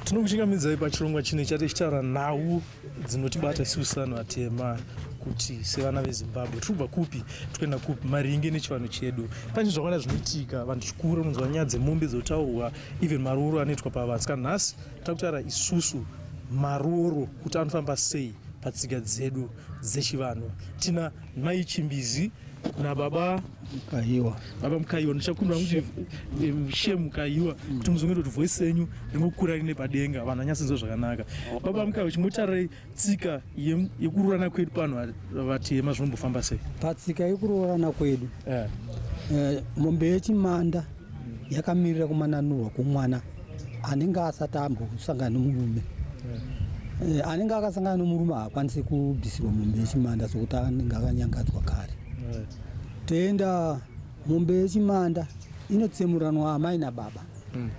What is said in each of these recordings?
Tinokuchingamidzai pachirongwa chino chati chitaura nhau dzinotibata isusu vanhu vatema kuti sevana vezimbabwe tirikubva kupi tikuenda kupi maringe nechivanhu chedu pane zvakawanda zvinoitika vanhu chikuru unonzwa nyaya dzemombe dzotaurwa even marooro anoitwa pavanhu saka nhasi takutaura isusu marooro kuti anofamba sei patsika dzedu dzechivanhu tina Mai Chimbizi na baba Mkayiwa. Baba Mkayiwa ndichakumbira kuti She Mkayiwa kuti muzonge kuti voice yenyu ringokura rine padenga vanhu anyasinzwa zvakanaka. Baba Mkayiwa chimbotarai tsika yekuroorana kwedu pano vatema zvinombofamba sei? Patsika yekuroorana kwedu. Eh. Eh, mombe yechimanda. yakamirira kumananurwa kwomwana anenge asati ambosangana nomurume eh, anenge akasangana nomurume haakwanisi kubvisirwa mombe yechimanda sokuti anenge akanyangadzwa kare toenda mombe yechimanda inotsemuranwa amai nababa hmm.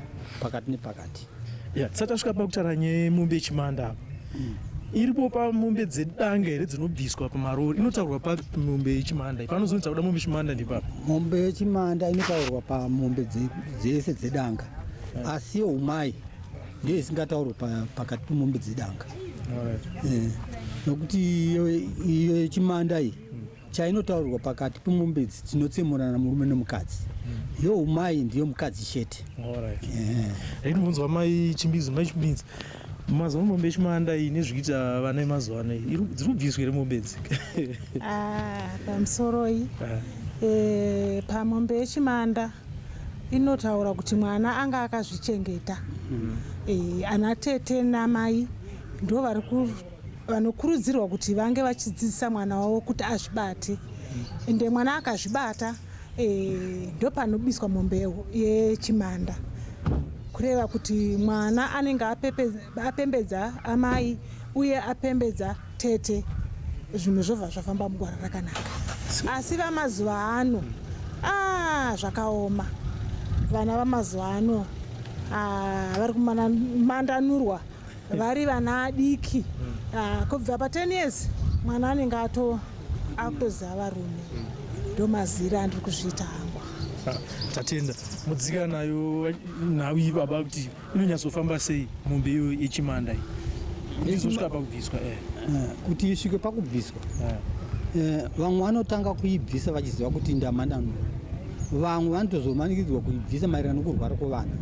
pakati nepakati Yeah, tisati tasvika pakutaura nyaya yemombe yechimanda apa mm. iripo pamombe dzedanga here dzinobviswa pamarori inotaurwa pamombe yechimanda panozonzi takuda mombe yechimanda ndipapa mombe yechimanda inotaurwa pamombe dzese dzedanga yeah. asi yeumai ndiyo isingataurwe pakati pemombe dzedanga eh, nokuti iyo yechimanda iyi mm. chainotaurirwa pakati pemombe idzi tinotsemurana murume nemukadzi mm. yo umai ndiyo mukadzi chete ndinobvunzwa eh. mai chimbizi mai chimbizi mazuva mombe echimanda iyi nezvikuita vana emazuva ano iyi dziri kubviswa here mombe idzi ah, pamusoroi ah. eh, pamombe yechimanda inotaura kuti mwana anga akazvichengeta mm. eh, ana tete namai ndo vari vanokurudzirwa kuti vange vachidzidzisa mwana wavo kuti azvibate ende mwana akazvibata eh, ndopanobiswa mombe yechimanda kureva kuti mwana anenge apembedza amai uye apembedza tete zvinhu zvobva zvafamba mugwara rakanaka asi vamazuva ano ah, zvakaoma vana vamazuva ano ah, vari kumandanurwa vari vana adiki ah, kubva pa 10 years mwana anenge ato akutoziva varume ndomazira andiri kuzviita hangu Ah, tatenda mudzika nayo nhau iyi baba kuti inonyatsofamba sei mombe iyo yechimanda iyi izosvika pakubviswa eh. kuti isvike pakubviswa Eh, vamwe vanotanga kuibvisa vachiziva kuti ndamanano vamwe vanotozomanikidzwa kuibvisa maererano kurwara kwevana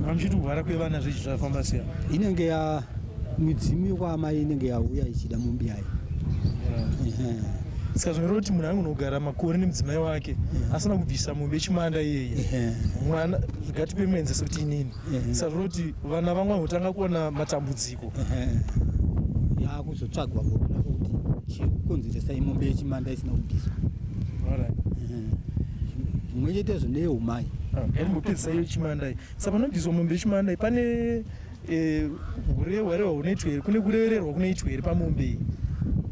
amuchiti kurwara kwevana zvichi zvafamba siya inenge ya midzimu yekwaamai inenge yauya ichida mombe yayo saka zvinoreva kuti munhu angonogara makore nemudzimai wake asina kubvisa mombe yechimanda iyeye mwana ngatipe muenzese kuti inini saka zvinoreva kuti vana vamwe vanotanga kuona matambudziko yakuzotsvagwa kuona kuti chiri kukonzeresa imombe yechimanda isina kubviswa zvimwe chete izvo ndeyeumai ndambopedzisa ah, yechimandai sa panobviswa mombe yechimandai pane eh, hurehwarehwa hunoitwa here kune kurererwa kunoitwa here pamombe iyi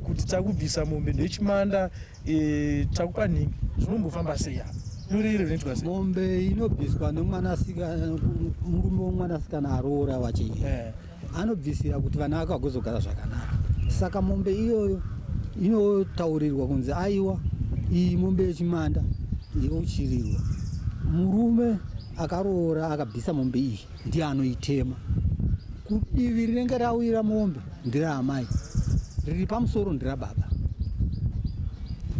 kuti takubvisa mombe ndechimanda Eh, chakupa nhingi zvinombofamba sei apa duri iri rinoitwa sei mombe inobviswa nemwanasikana murume womwanasikana aroora wachi eh. anobvisira kuti vana vake vagozogara zvakanaka saka mombe iyoyo inotaurirwa kunzi aiwa iyi mombe yechimanda yochirirwa murume akaroora akabvisa mombe iyi ndiye anoitema kudivi rinenge rawira mombe ndira amai riri pamusoro ndira baba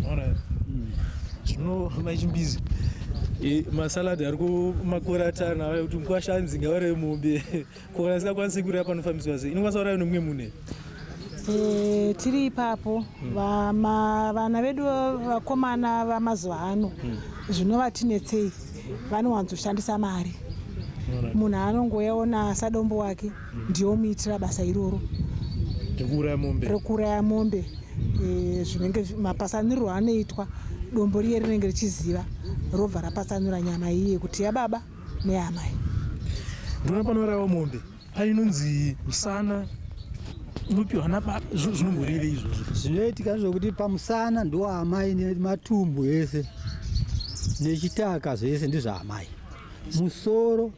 hmm. zvino mai chimbizi e, masaladi ari kumakora atana aya kuti mukwasha anzi ngavare mombe ko kana singakwanisi kureva panofambiswa sei inokwanisa kuraiwa nemumwe mune e, tiri ipapo hmm. vana vedu vakomana vamazuva ano hmm. zvinovatinetsei vanowanzoshandisa mari munhu anongoyaona sadombo wake ndiyo muitira basa iroro rekuuraya mombe eh, zvinenge mapasanirwo anoitwa dombo riye rinenge richiziva robva rapasanura nyama iye kuti yababa neyamai ndinopanoraiwa mombe painonzi musana unopiwa nababa zvinomboreve izvozvo zvinoitika zvokuti pamusana ndoamai nematumbu ese nechitaka zvese ndezvaamai musoro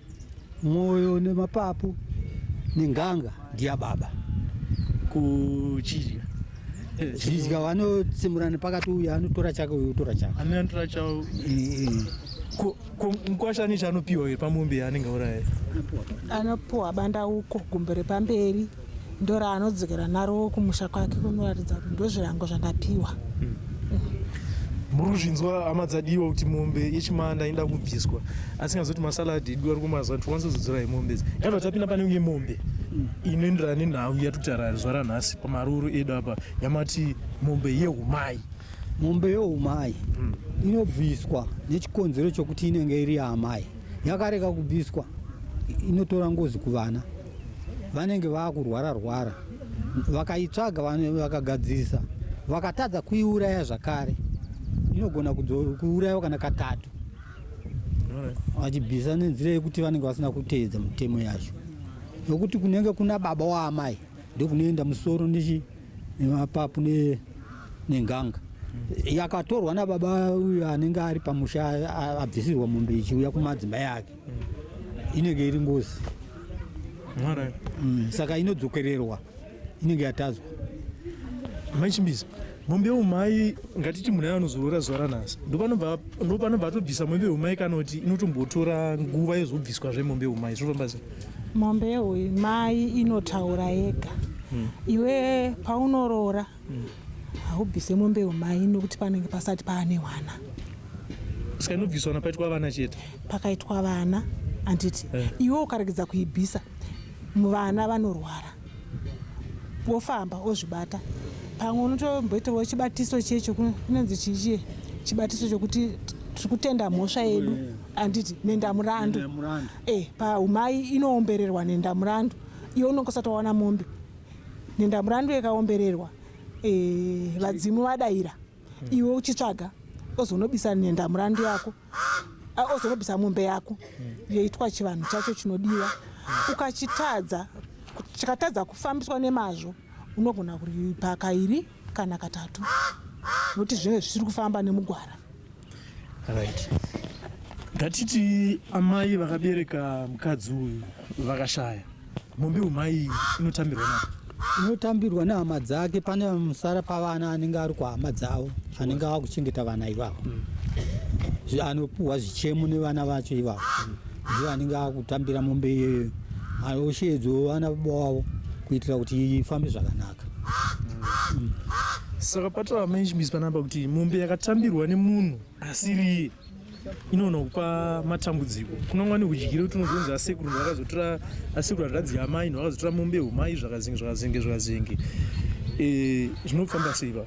mwoyo nemapapu nenganga ndiya baba kuchidya zvidya vanotsimurana pakati uyu anotora chake uyu otora chake amene anotora chavo Ko mkwasha ane chaanopiwa here pamombe yaanenge auraya? Anopiwa bandauko gumbo repamberi ndo raanodzokera naro kumusha kwake kunoratidza kuti ndozvirango zvandapiwa. Hmm. Muri kuzvinzwa hama dzadiwa kuti mombe yechimanda inoda kubviswa asi ngazoti masaladi edu ari kumazuva kuti wanzozodzora yemombe idzi kana tapinda pane imwe mombe hmm. inoenderana nenhau yatikutarara zuva ranhasi pamaroro edu apa yamati mombe yehumai Mombe youmai inobviswa nechikonzero chokuti inenge iri yaamai. Yakareka kubviswa inotora ngozi kuvana. Vanenge vakurwara rwara. Vakaitsvaga vakagadzirisa vakatadza kuiuraya zvakare inogona kuurayiwa kana katatu vachibvisa nenzira yekuti vanenge vasina kuteedza mitemo yacho nokuti kunenge kuna baba waamai ndokunoenda musoro ndichi mapapu ne nenganga yakatorwa nababa uyu anenge ari pamusha abvisirwa mombe ichiuya kumadzimai ake inenge iri ngozi mm, saka inodzokererwa inenge yatadzwa maichimbiza mombe umai ngatiti munhu anozorora zuva ranhasi ndopanobva atobvisa mombe umai kana kuti inotombotora nguva yozobviswa zvemombe umai zvinofamba sei mombe yeumai inotaura yega hmm. iwe paunoroora hmm. haubvise mombe umai nokuti panenge pasati paane wana ska inobviswa na paitwa vana chete pakaitwa vana handiti eh. iwe ukaregedza kuibvisa Vana vanorwara wofamba ozvibata pamwe unotomboitawo chibatiso chiye chokunonzi chichie chibatiso chokuti tiri kutenda mhosva yedu anditi nendamurandu e eh, paumai inoombererwa nendamurandu iyo unonge usati wawana mombe nendamurandu yakaombererwa e vadzimu vadaira iwe uchitsvaga ozonobisa nendamurandu yako ozorobisa mombe yako yoitwa chivanhu chacho chinodiwa ukachitadza chikatadza kufambiswa nemazvo unogona kuripa kairi kana katatu nokuti zvinenge zvisiri kufamba nemugwara right ngatiti amai vakabereka mukadzi uyu vakashaya Mombe umai inotambirwa na inotambirwa nehama dzake pane musara pavana anenge ari kuhama dzavo anenge ava kuchengeta vana ivavo mm. anopuhwa zvichemo nevana vacho ivavo mm. ndivo anenge ava kutambira mombe iyoyo osheedzwa vana baba wavo kuitira kuti ifambe zvakanaka mm. saka patara management panapa kuti mombe yakatambirwa nemunhu asiri inoona kupa matambudziko kunonga nekudyira kuti unozonzi asekuru vakazotora asekuru hanzvadzi yamai no vakazotora mombe humai zvakazenge zvakazenge zvakazenge eh, zvinofamba sei va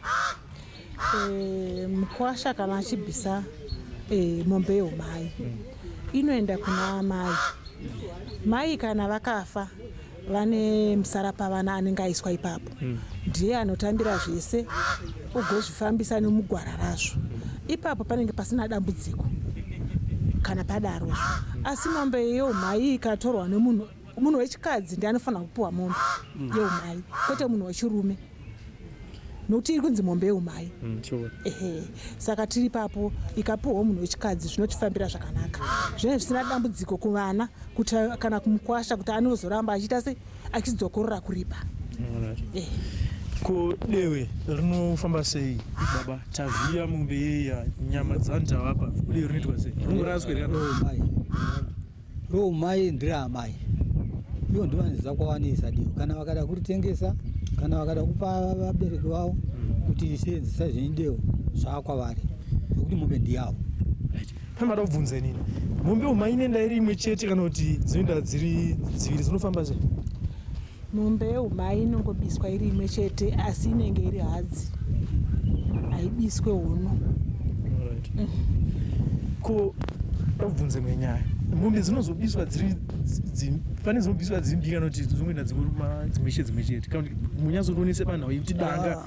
eh, mukwasha kana achibvisa eh, mombe yehumai inoenda kuna amai mai kana vakafa vane musarapavana anenge aiswa ipapo hmm. ndiye anotambira zvese ugozvifambisa nemugwara razvo ipapo panenge pasina dambudziko kana padaro asi mombe yeumhai ikatorwa nemunhu munhu wechikadzi ndi anofanira kupiwa mombe hmm. yeumhai kwete munhu wechirume nokuti iri kunzi mombe yeumai mm, ehe saka tiri papo ikapiwawo munhu wechikadzi zvinotifambira zvakanaka zvinenge zvisina dambudziko kuvana kuti kana kumukwasha kuti anozoramba achiita se achidzokorora kuripa eh. ko dewe rinofamba sei baba tavhiya mombe yeya nyama dzanitavapa ude rinoitwa sei rinoraswe rikadoo mai Ro mai ndira amai ivo ndivo vanoziva kwawanisa diyo kana vakada kuritengesa kana vakada kupa vabereki vavo kuti seenzisa zvenidewo zvaakwavari nokuti mombe ndiyavo pamada kubvunza inini mombe umaine ndairi imwe chete kana kuti dzinoenda dziri dziviri dzinofamba zve Mombe yeumai inongobiswa iri imwe chete asi inenge iri hadzi haibiswe hono. Alright. Ko obvunze imwe nyaya. Mombe dzinozobiswa dziri dzi- dzi- pane dzinobiswa dziri mbiri kana kuti dzongoenda dzingoruma dzimwe chete dzimwe chete. Kana kuti munyatsotoonese panhau yekuti danga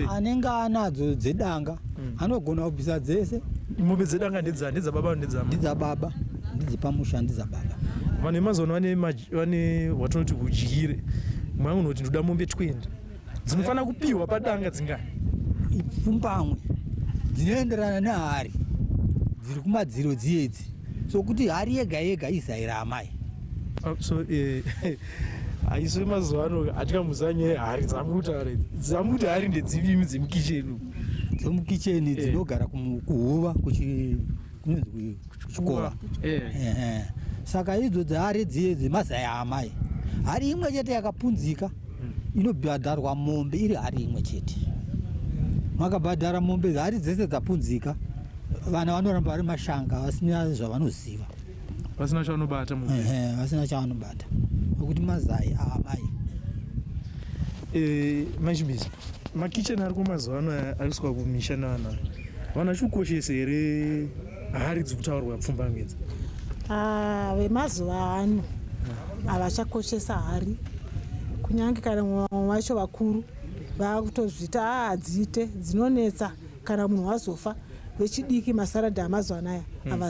anenge anadzo dzedanga mm. anogona kubvisa dzese mombe dzedanga ndedzababa ndedzababa ndedzepamusha ndedzababa vanhu vemazuva ano vane watonoti udyire mwangu noti ndoda mombe 20 dzinofanira kupiwa padanga dzingani ipfumbamwe dzinoenderana nehari dziri kumadziro dziyedzi sokuti hari yega yega izai raamai ah, so eh, aiswe mazuva ano atika muzanye hari dzambuta hari dzambuta hari ndedzivimi dzemukicheni dzemukicheni eh. dzinogara kuhuva kuchi kunonzi kuchikova eh. eh, saka idzo dzehari dziye dzemazaya amai hari imwe chete yakapunzika hmm. inobhadharwa mombe iri hari imwe chete makabhadhara mombe hari dzese dzapunzika vana vanoramba vari mashanga vasina zvavanoziva vasina chavanobata vasina chavanobata nokuti mazai aamai eh, machibisa makichen ari kumazuva ano aiswa kumisha naana vanhu vachikukoshesa here hari dzi kutaurwa pfumba ngedza ah, vemazuva ano havachakoshesa hari kunyange kana mumwe vacho vakuru vakutozvita ah, dziite dzinonetsa kana munhu wazofa vechidiki masaradha amazuva anaya hmm.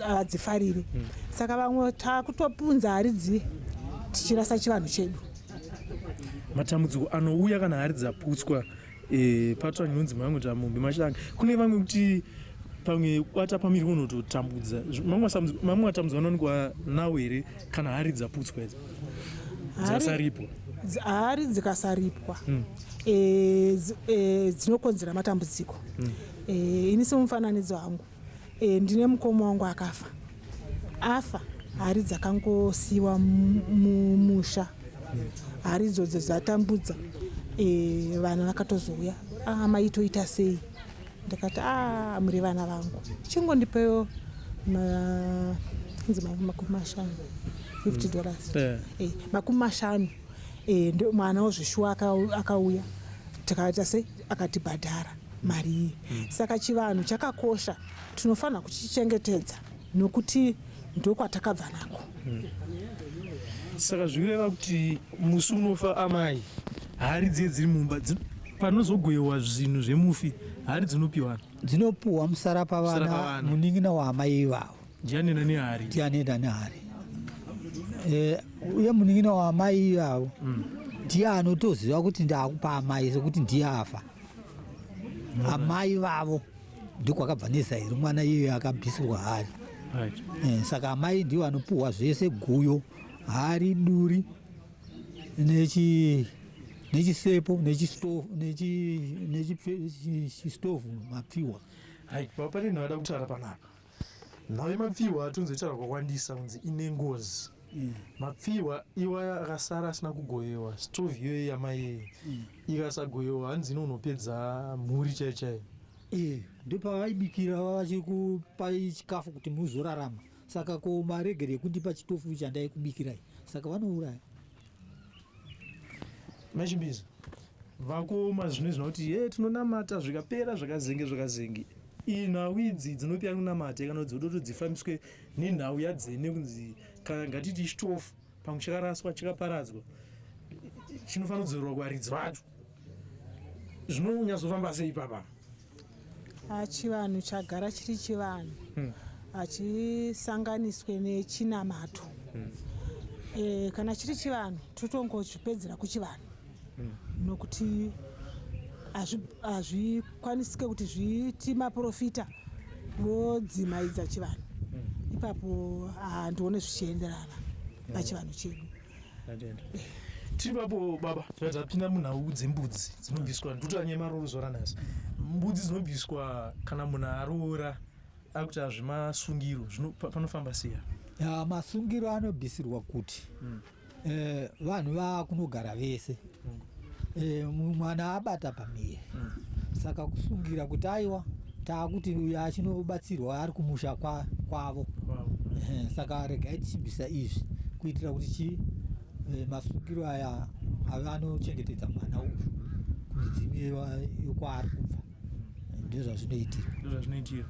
havadzifariri hmm. saka vamwe takutopunza hari dzii tichirasa chivanhu chedu matambudziko anouya kana hari dzaputswa eh, patwa nyunzi mangu tamumbi machilanga kune vamwe kuti pamwe kwata pamiri unototambudza mamwe matambudziko anowanikwa nawo here kana hari dzaputswa idzo dzasaripwa hari dzikasaripwa hmm. eh, eh, dzinokonzera matambudziko hmm. eh, ini semufananidzo wangu ndine mukoma wangu akafa afa hari dzakangosiyiwa mumusha hmm. hari idzodzo dzatambudza vanhu vakatozouya ah, amaitoita sei ndikati a ah, muri vana vangu chingondipewo inzi makumi mashanu fifty mm. dollars eh. Eh, makumi mashanu eh, ndo mwana wozveshuwa akauya tikaita sei akatibhadhara mari iyi mm. saka chivanhu chakakosha tinofanira kuchichengetedza nokuti ndokwatakabva nako hmm. saka zvikureva kuti musi unofa amai hari dziye dziri mumba panozogoyewa zvinhu zvemufi hari dzinopiwa dzinopiwa musara pavana munin'ina waamai ivavo ndianenda nehari ndianenda nehari eh, uye munin'ina waamai ivavo hmm. ndiye anotoziva kuti ndaakupa amai sekuti ndiye afa hmm. amai vavo ndiko akabva nezairi mwana iyoyo akabvisirwa hari right. e, saka amai ndiwo anopuhwa zvese guyo hari duri nechi nechisepo nechistove mapfiwa right. baba pane nhawada kutara panapa Nhai mapfihwa atonzoitaura kwakwandisa kunzi ine ngozi mm. mapfihwa iwaya akasara asina kugoyewa stovi iyoyo yamaiye mm. ikasagoyewa hanzi ino unopedza mhuri chai chai e ndopavaibikira vavachiri kupai chikafu kuti muzorarama saka ko maregere ekundipa chitofu chandaikubikirai saka vanouraya machimbizi vakuoma zvino izvina kuti ye tinonamata zvikapera zvakazenge zvakazenge inhau idzi dzinopia kunamata kana kuti dzinoda todzifambiswe nenhau yadzene kunzi kana ngatiti chitofu pamwe chakaraswa chakaparadzwa chinofanira kudzorerwa kuvaridzi vacho zvinonyatsofamba sei ipapa Ah, chivanhu chagara chiri chivanhu hmm. hachisanganiswe nechinamato hmm. eh, kana chiri chivanhu totongochipedzera kuchivanhu hmm. nokuti hazvikwanisike kuti zviiti maprofita vodzimaidza chivanhu ipapo handione zvichienderana pachivanhu chedu tiri papo baba tapinda munhau dzembudzi dzinobviswa ndutanye maroro zora nhasi mbudzi dzinobviswa kana munhu aroora akuti hazvi masungiro panofamba siya masungiro anobvisirwa kuti hmm. eh, vanhu vakunogara vese e, mwana abata pamie mm. saka kusungira kuti aiwa taakuti uyo achinobatsirwa ari kumusha kwavo kwa wow. e, saka regai tichibvisa izvi kuitira kuti chii e, masungiro aya ave anochengetedza mwana uyu kumidzimu yekwaari kubva ndozvazvinoitirwa ndozvazvinoitirwa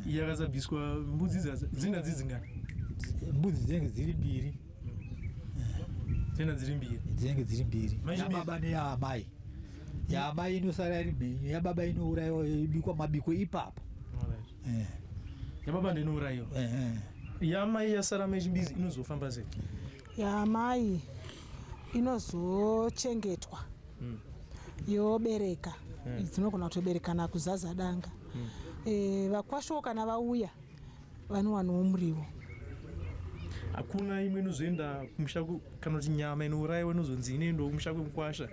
iye akasabviswa mbudzi dzina dzidzi ngani mbudzi dzinenge dziri mbiri tena dziri mbiri dzinenge dziri mbiri yababa neyaamai yaamai inosara iri mhenyu yababa inourayiwa ibikwa mabiko ipapo eh. yababa ndinourayiwa eh, eh. yaamai yasara mechimbizi inozofamba sei yaamai inozochengetwa hmm. yobereka hmm. dzinogona kutoberekana kuzaza danga hmm. vakwashowo kana vauya vanowanawo muriwo hakuna imwe inozoenda kumusha kana kuti nyama inourayiwa inozonzi inoendawo kumusha kwemukwasha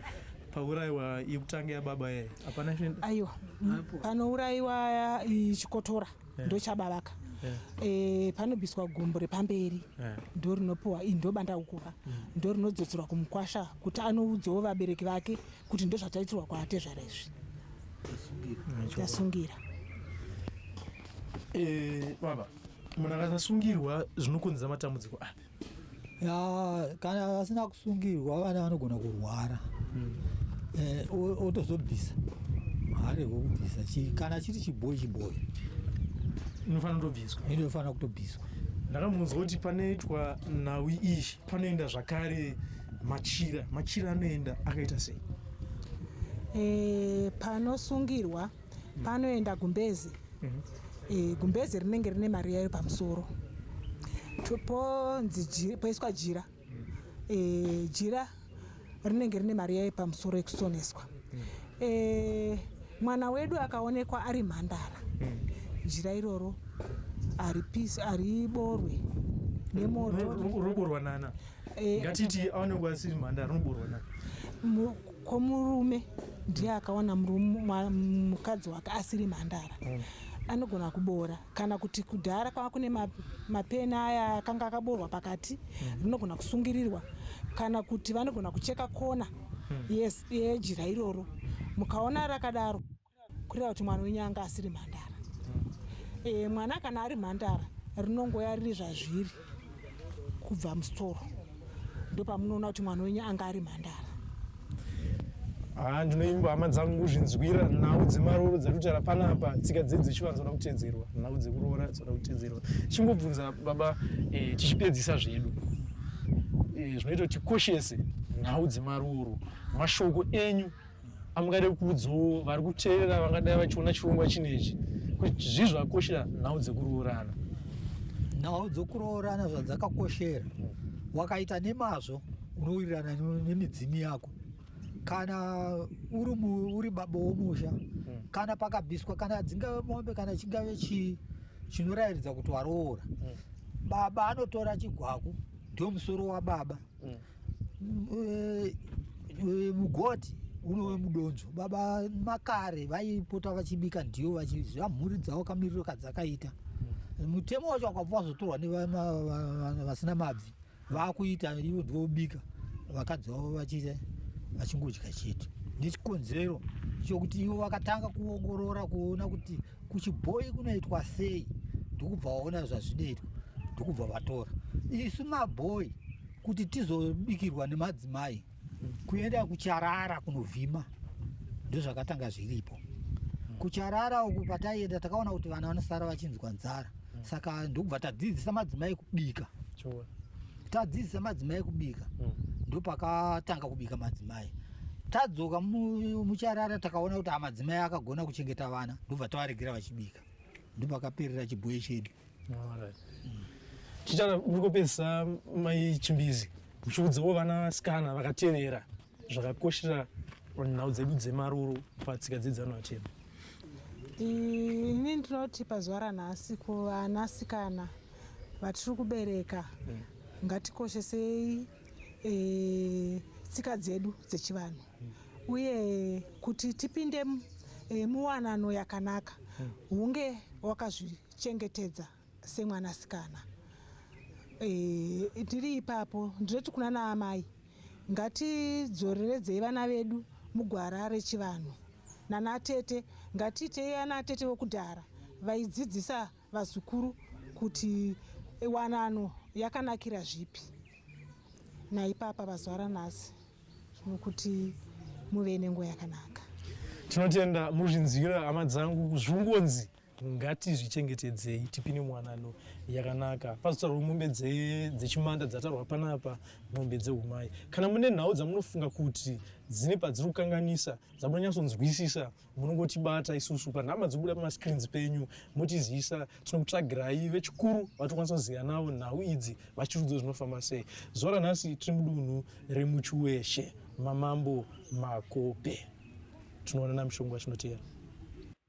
paurayiwa yekutanga yababa yaye hapana chinoenda aiwa panourayiwa chikotora eh. ndochabavaka eh. eh, panobiswa gumbo repamberi ndo rinopiwa ndobanda ukuka mm. ndo rinodzodzerwa kumukwasha kuti anoudzawo vabereki vake kuti ndozvataitirwa kwatezvara izvi tasungira eh, baba munhu akasasungirwa zvinokonzera matambudziko api ya kana vasina kusungirwa vana vanogona kurwara hmm. eh, otozobvisa hare wokubvisa kana chiri chibhoyi chibhoyi inofanira kutobviswa inofanira kutobviswa ndakamunzwa kuti panoitwa nhau izvi panoenda zvakare machira machira anoenda akaita sei e, panosungirwa mm. panoenda gumbezi mm -hmm. e, gumbezi rinenge rine mari yayo pamusoro ponzi poiswa jira mm. e, jira rinenge rine mari yaye pamusoro yekusoneswa mm. e, mwana wedu akaonekwa ari mhandara mm. jira iroro haripisi hariborwe nemoto roborwa nana e, ngatiti aonekwa asiri mhandara roborwa nana ko murume ndiye akawana mukadzi wake asiri mhandara mm. anogona kuboora kana kuti kudhara kwava kune mapeni aya akanga akaboorwa pakati hmm. rinogona kusungirirwa kana kuti vanogona kucheka kona hmm. yes yejira iroro mukaona rakadaro kureva kuti mwana wenyu anga asiri mhandara hmm. e, mwana kana ari mhandara rinongoya riri zvazviri kubva musitoro ndopamunoona kuti mwana wenyu anga ari mhandara haa ah, ndinoimba hama dzangu kuzvinzwira nhau dzemarooro dzatotara panapa tsika dzedu dzechivanhu dzinoda kutedzerwa nhau dzekuroora dzinoda kutedzerwa chingobvunza baba eh, tichipedzisa zvedu eh, zvinoita kuti tikoshese nhau dzemarooro mashoko enyu amungade kuudzawo vari kuteerera vangadai vachiona chirongwa chinechi kuti zvii zvakakoshera nhau dzekuroorana nhau dzekuroorana zvadzakakoshera wakaita nemazvo unowirirana nemidzimu yako kana uri uri baba womusha hmm. kana pakabviswa kana dzingave mombe kana chingave chii chinorayiridza kuti waroora hmm. baba anotora chigwaku ndio musoro wababa mm. mugoti mm. eh, unove mudonzvo baba makare vaipota vachibika ndiyo vachiziva mhuri dzavo kamiriro kadzakaita mm. mutemo wacho wakabva wazotorwa nevasina mabvi vakuita ivo ndivobika vakadzi vavo vachiita vachingodya chete nechikonzero chokuti ivo vakatanga kuongorora kuona kuti kuchibhoyi kunoitwa sei ndikubva waona zvazvinoitwa ndikubva vatora isu mabhoyi kuti tizobikirwa nemadzimai kuenda kucharara kunovhima ndozvakatanga zviripo kucharara uku pataienda takaona kuti vana vanosara vachinzwa nzara saka ndokubva tadzidzisa madzimai kubika tadzidzisa madzimai kubika hmm. ndopakatanga kubika madzimai tadzoka mucharara takaona kuti amadzimai akagona kuchengeta vana ndobva tavaregera vachibika ndopakaperera chibhoyi chedu chichana muri kupedzisa mai chimbizi muchiudzawo vana sikana vakatevera zvakakoshera nhau dzedu dzemaruru patsika dzedzano atema ini ndinoti pazuva ranhasi kuvanasikana vatiri kubereka mm. ngatikoshesei e, tsika dzedu dzechivanhu uye kuti tipinde e, muwanano yakanaka hunge wakazvichengetedza semwanasikana e, tiri ipapo ndinoti kuna naamai ngatidzoreredzei vana vedu mugwara rechivanhu nanatete ngatiitei anatete vokudhara vaidzidzisa vazukuru kuti wanano yakanakira zvipi naipapa pazuva ranhasi nokuti muve nenguva yakanaka tinotenda muri zvinzwira hama dzangu zvingonzi ngatizvichengetedzei tipine mwanano yakanaka pazotarwa mombe dzechimanda dzatarwa panapa mombe dzeumai kana mune nhau dzamunofunga kuti dzine padziri kukanganisa dzamunonyatsonzwisisa munongotibata isusu panhamba dzobuda pamascreens penyu motizivisa tinokutsvagirai vechikuru vatokwanisa kuziva navo nhau idzi vachirudzo zvinofamba sei zuva ranhasi tiri mudunhu remuchiweshe mamambo makope tinoonana mushongo vachinoteera